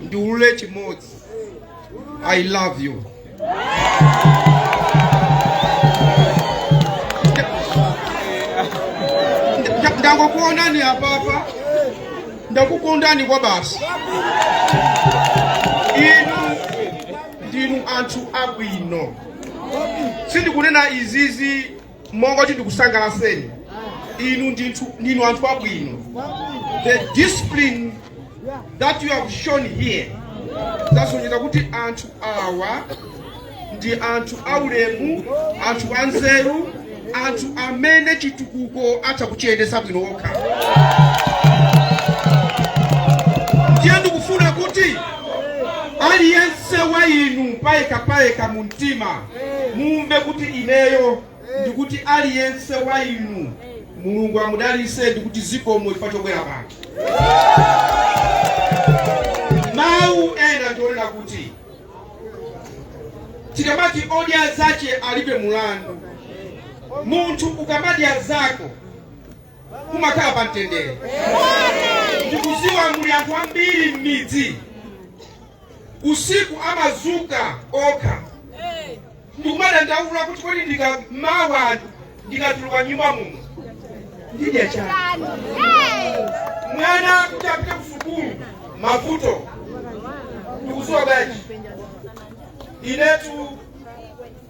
ndiulule chimodzi i love you Nda- ndangokuonani apapa ndakukondani kwabasi inu ndinu anthu abwino sindikunena izizi monga oti ndikusangalaseni inu ndinu anthu abwino the discipline that you have shown here zasonyeza kuti anthu awa ndi anthu aulemu anthu anzeru anthu amene chitukuko atha kuchiyendesa bwino okha ndiye ndikufuna kuti aliyense wa inu payekapayeka mu mtima mumve kuti ineyo ndikuti aliyense wa inu mulungu amudalise ndikuti zikomo chifukwa chobwera pano mawu ena ndi onena kuti tikamati odya zache alibe mulandu munthu ukamadya zako umakhala pa mtendere ndikuziwa muli anthu ambiri m'midzi usiku amazuka okha ndikumadandaula kuti kodi ndika mawa ndikatuluka nyumba muno ndidya chani mwana kuti apite kusukulu mavuto ndikuziwa bwanji inetu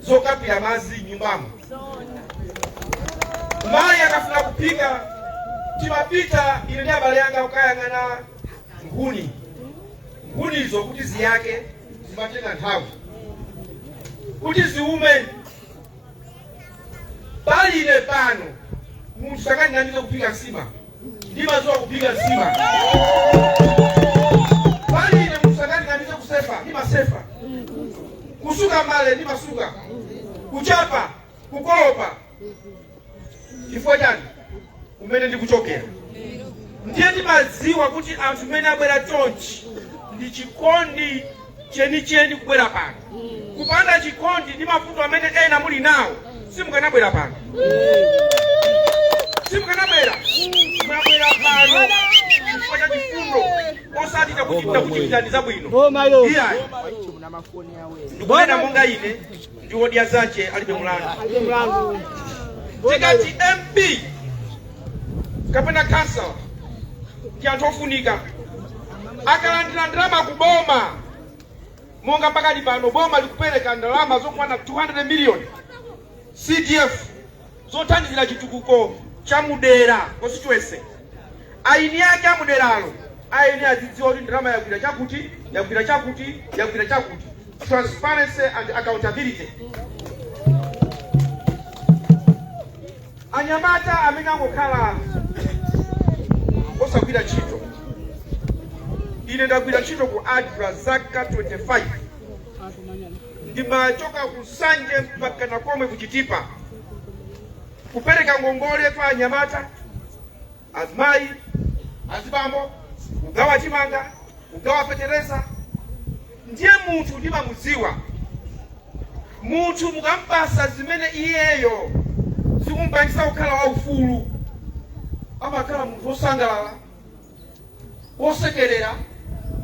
zokapila madzi nyumbamo mayi akafuna kuphika timapita ine ndi abale anga kukayang'ana nkhuni nkhunizo kuti ziyake zimatenga nthawi kuti ziume pali ine pano munthu sangandinamize kuphika nsima ndimadziwa kuphika nsima pali ine munthu sangandinamize kusefa ndimasefa kusuka mbale ndimasuka kuchapa kukolopa chifukwa chani kumene ndikuchokera ndiye ndimadziwa kuti anthu amene abwera chonchi ndi chikondi chenicheni kubwera pano kupanda chikondi ndi mavuto amene ena muli nawo simukanabwera pano simukanabwera mwabwera pano chifukwa cha chikondi osati chakuti ndakuchitirani zabwino iyayi ndikunena monga ine ndi odya zace alibe mulandu tikati mp kapena khansala ndi anthu ofunika akalandira ndalama ku boma monga pakati pano boma likupereka ndalama zokwana 200 million cdf zothandizira chitukuko cha mudera, constituency, eni ake amuderalo eni azidziwa kuti ndalama yagwira chakuti yagwira chakuti yagwira chakuti, transparency and accountability. Anyamata amene angokhala osagwira ntchito, ine ndagwira ntchito ku ADRA zaka 25. ndimachoka ku Nsanje mpaka nako komwe ku Chitipa kupereka ngongole kwa anyamata azimayi azibambo kugawa chimanga kugawa fetereza ndiye munthu ndimamudziwa munthu mukampasa zimene iyeyo zikumpangisa kukhala waufulu amakhala munthu wosangalala wosekerera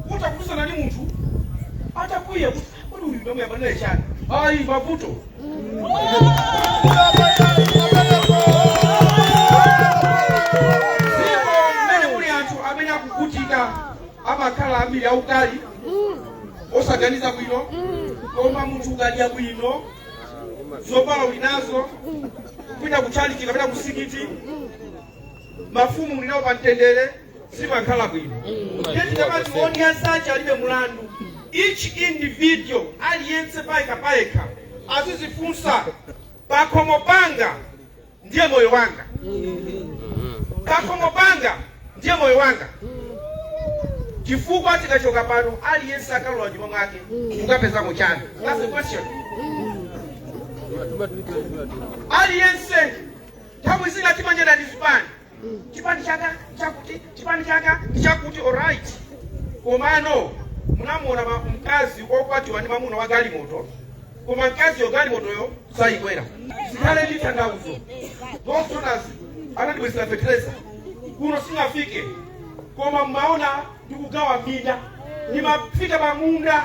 kutha kudusana ndi munthu atakwiya kuti kodi uyu ndayambana naye chani ayi mavuto ndipo mmene kuli anthu amene akuvutika amakhala ambiri aukali osaganiza bwino koma munthu ukadya bwino zovala uli nazo kupita kutchalichi kapena kumzikiti mafumu mulinawo pa mtendere mumakhala bwino ndiye tikamati odya zake alibe mulandu each individual aliyense payekha payekha azizifunsa pakhomo panga ndiye moyo wanga pakhomo panga ndiye moyo wanga chifukwa tikachoka pano aliyense akalowa mnyumba mwake mukapezamo chani that's the question aliyense Nthawi zina timanyada ndi zipani, chipani changa nchakuti, chipani changa ndichakuti. Alright, komano munamuona ma- mkazi okwatiwa ndi mamuna wa galimoto, koma mkaziyo galimotoyo sayikwera. Sikhala ndi tanthauzo. Those donors anatibwezera fertilizer kuno singafike, koma mmaona ndikugawa minda, ndimafika pamunda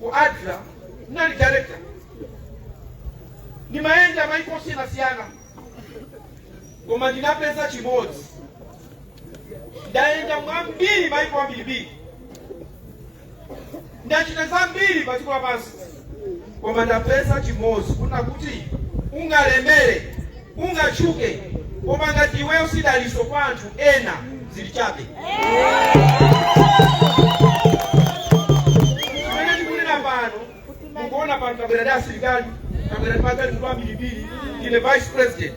ku adra ndinali director ndimayenda maiko osiyanasiyana koma ndinapeza chimodzi ndayenda mwambiri maiko ambirimbiri ndachita zambiri pa dziko lapansi koma ndapeza chimodzi kunena kuti ungalemere ungatchuke koma ngati iweyo si daliso kwa anthu ena zili chabe Mmene tikunena pano mukuwona pano tabwera ndi asilikali tabwera ndi magalimoto ambirimbiri ine vice president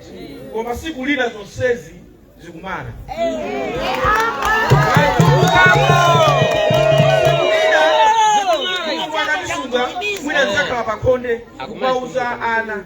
koma siku lina zonsezi zikumana mwina ndizakhala pakhonde kumauza ana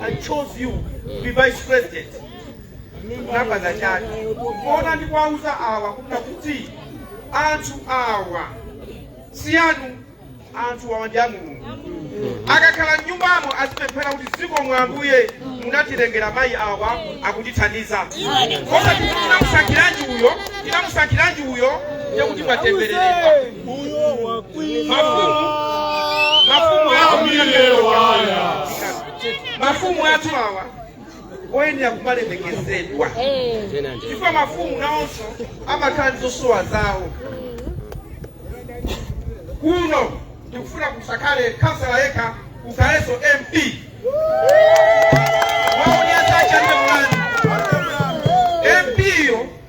I chose you to be vice president unapanga chani koma ndi kuwauza awa kunena kuti anthu awa si anu anthu awa ndi a mulungu akakhala mnyumbamo azipemphera kuti zikomo ambuye munatilengera mayi awa akutithandiza koma tinamusankhiranji uyo tinamusankhiranji uyo ndekuti mwatembereredwa mafumu athu awa ayenera kumalemekezedwa chifukwa mafumu nawonso amakhala ndi zosowa zawo kuno tikufuna kusakhale kansala yekha kukhalenso mp mp yo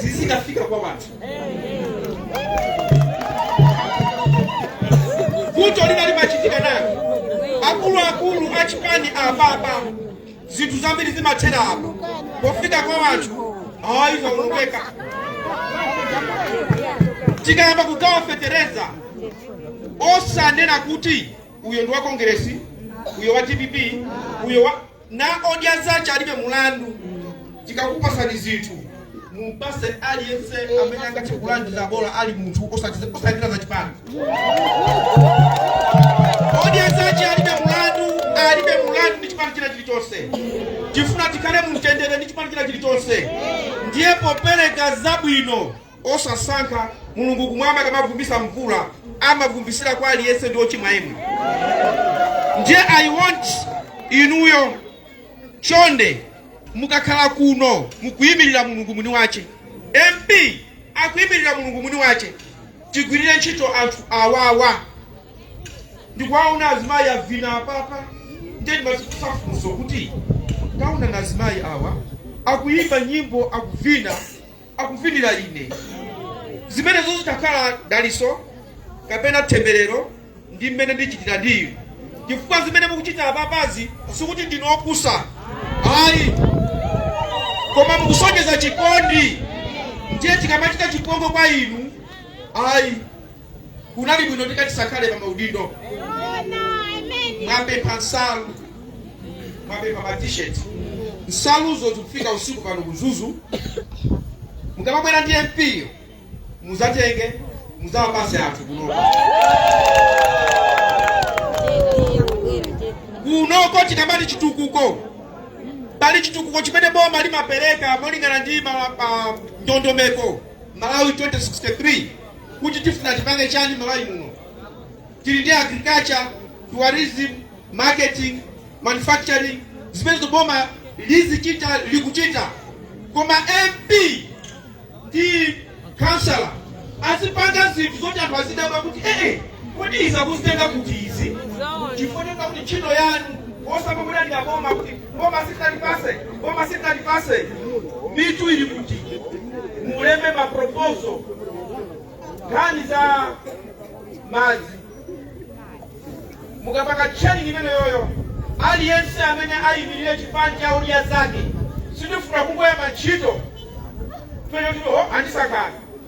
zizikafika kwa wanthu vuto lina limachitika nawo akuluakulu achipani apapa zinthu zambiri zimathera apa pofika kwa wanthu awayiwa Mulungu eka tikayamba kugawa fetereza osanena kuti uyo ndi wa kongeresi uyo wa dpp uyo wa Na odya zace alibe mlandu. Tikakupatsani zinthu, mupatse aliyense amene angathe kulandira, bola ali munthu, osatsatira za chipani. Odya zace alibe mlandu, alibe mlandu ndi chipani china chilichonse. Tifuna tikhale mu mtendere ndi chipani china chilichonse, ndiye popereka zabwino osasankha mulungu kumwamba akamavumbisa mvula amavumbisira kwa aliyense ndi ochimwa omwe ndiye i want inuyo chonde mukakhala kuno mukuyimirira mulungu mwini wace mp akuyimirira mulungu mwini wace tigwirire ntchito anthu awawa ndikuwaona azimayi avina apapa ndiye ndimazifunsa funso kuti taonani azimayi awa akuyimba nyimbo akuvina akuvinira ine zimenezo zitakhala daliso kapena themberero ndi mmene ndichitira ndi inu chifukwa zimene mukuchita apapazi sikuti ndinu opusa ayi koma mukusonyeza chikondi ndiye tikamachita chipongwe kwa inu ayi kunali bwino tikati tisakhale pa maudindo mwapempha nsalu mwapempha ma t-shirt nsaluzo zikufika usiku pano ku Mzuzu mukamabwera ndi mp yo muzatenge muzawapase anthu kuno kunoko tikamati chitukuko pali chitukuko chimene boma limapereka molingana ndi ma- ma- ndondomeko malawi 2063 kuti tifuna tipange chani Malawi muno. Tili ndi agriculture, tourism, marketing, manufacturing zimenezo boma lizichita, likuchita koma MP ndi councillor azipanga zinthu zoti anthu azidabwa kuti ee kodi izi akuzitenga kuti izi chifoneka kuti ntchito yanu osati amaboma kuti Boma sitalipase, boma sitalipase. Mitu ili kuti. Mulembe ma proposal. Nkhani za madzi. Mukapanga training imeneyoyo. Aliyense amene ayimirire chipani cha UDF yake. Sitifuna kungoyamba ntchito. Bene kuti ho andisankha.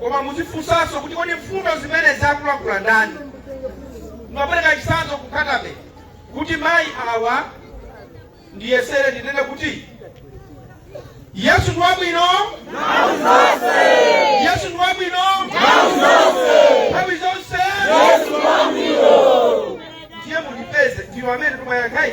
koma muzifunsanso kuti kodi mfundo zimene akulankhula ndani ndapereka chisanzo ku Nkhata Bay kuti mayi awa ndiyesere ndinene kuti yesu ndi wabwino yesu ndi wabwino nthawi zonse ndiye mundipeze ndinu amene timayankhayi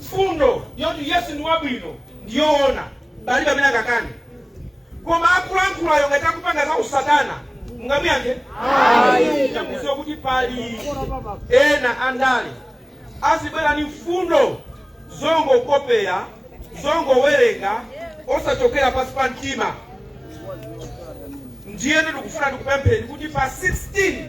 mfundo yoti yesu ndi wabwino ndiyoona palibe amene akakane koma akulankhulayo ngati akupanga za usatana mungamuyankhe ndikuziwa kuti pali ena andale azibwera ni mfundo zongokopera zongowerenga osachokera pansi pa mtima ndiyene ndikufuna ndikupempheni kuti pa 16